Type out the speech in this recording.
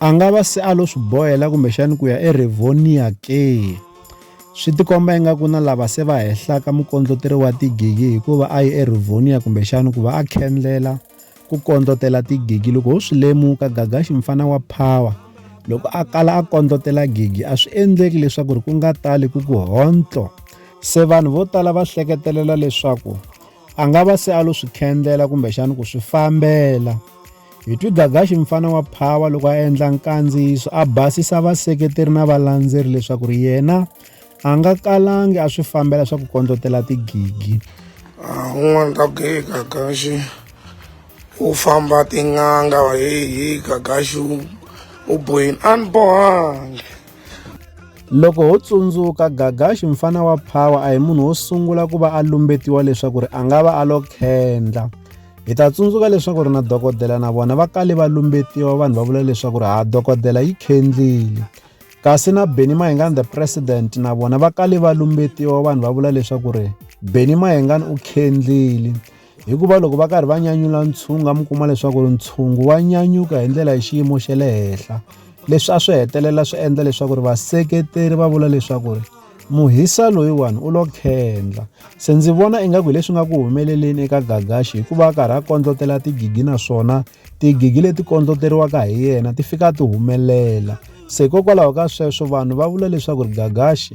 a nga va se a lo swi bohela kumbexani ku ya erivonia ke swi tikomba ingaku na lava se va hehlaka mukondloteri wa tigigi hikuva a yi erivonia kumbexani ku va a khendlela ku kondlotela tigigi loko ho swi lemuka gagaxi mfana wa power loko a kala a kondlotela gigi a swi endleki leswaku ri ku nga tali ku ku hontlo se vanhu vo tala va hleketelela leswaku a nga va se a lo swi khendlela kumbexana ku swi fambela hi twi gagaxi mfana wa phawa loko a endla nkandziyiso a basisa vaseketeri na valandzeri leswaku ri yena a nga kalangi a swi fambela swa ku kondlotela tigigi ah, un'wana ta ku heyi gagaxi u famba tin'anga heyi gagaxi u boyini a ni bohangi Loko ho tsundzuka, Gagashi mfana wa Power a hi munhu wo sungula ku va a lumbetiwa leswaku ri a nga va a lo khendla. Hi ta tsundzuka leswaku ri na dokodela na vona va kale va lumbetiwa vanhu va vula leswaku ri ha dokodela yi khendlile. Kasi na Benny Mayengani the president na vona va kale va lumbetiwa vanhu va vula leswaku ri Benny Mayengani u khendlile. hikuva loko va karhi va nyanyula ntshunga mi kuma leswaku ri ntshungu wa nyanyuka hi ndlela hi xiyimo xa le henhla leswi a swi hetelela swi endla leswaku ri vaseketeri va vula leswaku ri muhisa loyiwani u lo khendla se ndzi vona ingaku hi leswi nga ku humeleleni eka gagaxi hikuva a karhi a kondlotela tigigi naswona tigigi leti kondloteriwaka hi yena ti fika ti humelela se hikokwalaho ka sweswo vanhu va vula leswaku ri gagaxi